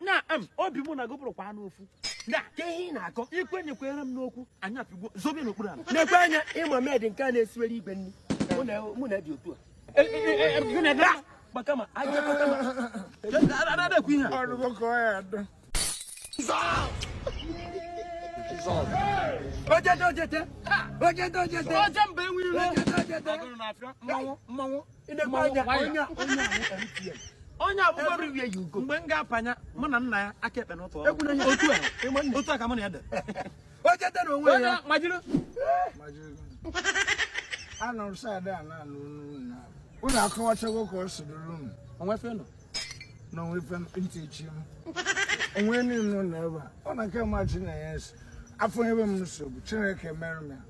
na em obi mụ na gị bụrụkwanụ ofu na ka ihe ị na-akọ ikwenyekwere m n'okwu anyị apịgwo zobe n'okpuru ala nekwa anya ị ma maid nke a na-esiwere igwe nri mụ na ya dị otu a E- e- e- e- gịnị ebe a? maka ma anyị ekọta ma na-ekwu ihe a o rugo ka ọ ya adọ ojete ojete ojete ojete oje mba enwerọ ojete ojete agụrụ na-afịa mmanwụ mmanwụ nekwa anya Mmanwụ onye a- onye a bụ MTN. onye a bụ Everywhere you go. mgbe m ga-apanya mụ na nna ya aka ekpe n'ụtụ ọrụ. Ekwula ihe. otu a Ị ma nne. otu a ka mụ na ya dị O cheta na onwe onye ya. ma jiri nọrọ side a na-anụ unu na unu akọwachago ka o si dịrị unu onwe fenụ na o nwe ife ntị echi m onwe niile nọ n'ebe a ọ na nke ma chi na ya esi afọ ebe m nsogbu chineke mere m ya